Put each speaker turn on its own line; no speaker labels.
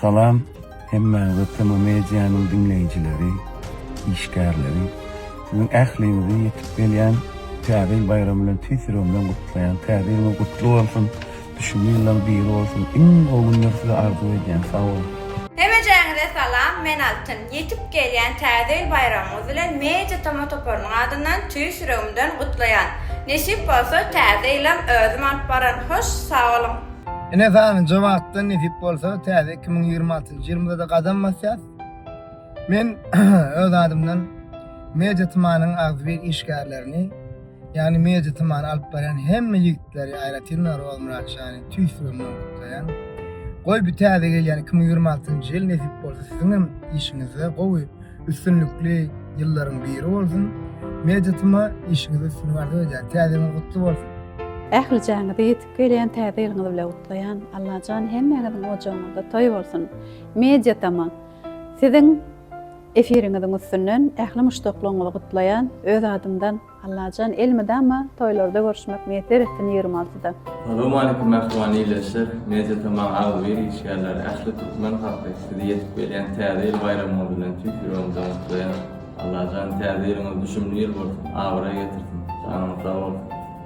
Salam hemmäňize tema medianyň diňleýjileri, işgärleri siziň ähliňizi ýetip gelýän Täze ýyl baýramy bilen tüýs ýüregimden gutlaýan. Täze ýylyňyz gutly bolsun, düşümli ýyllaryň biri bolsun. Iň gowy günleri size arzuw edýän. Sag boluň. Hemejäňize
salam men Altyn. Ýetip gelýän Täze ýyl baýramyňyz bilen Media Toma toparynyň adyndan tüýs ýüregimden gutlaýan. Nesip bolsa Täze ýylam özüm alyp baran. Hoş sag boluň. Ine sanynja
wagtdan nesip bolsa täze 2026 ýylymyzada gadam basýas. Men öz adymdan Media Tmanyň agzybir işgärlerini, ýagny Media Tmany alyp barýan hemme ýigitleri aýratynam Roz Myratjany tüýs ýüregimden gutlaýan. Goý bu täze gelýän 2026 ýyl nesip bolsa siziň hem işiňizde gowy üstünlikli ýyllaryň biri bolsun. Media Tma işiňizde üstünlik arzuw edýän. Täze ýylyňyz gutly bolsun. Ähli
jaňyzy Gelýän täze ýylyňyz bilen gutlaýan Allajan hemmäňiziň ojagyňyzda toý bolsun. Media tama siziň efiriňiziň üstünden ähli muşdaklaryňyzy gutlaýan öz adymdan Allajan elmydama toýlarda görüşmek miýesser etsin ýigrimi altyda. Salowmalikim
mähriban ildeşler Media tama agzybir işgärleri ähli türkmen halky sizi ýetip gelýän täze ýyl baýramyňyz bilen tüýs ýüregimden gutlaýan Allajan täze ýylyňyz düşümli ýyl bolsun abraý getirsin janyňyz sag bolsun.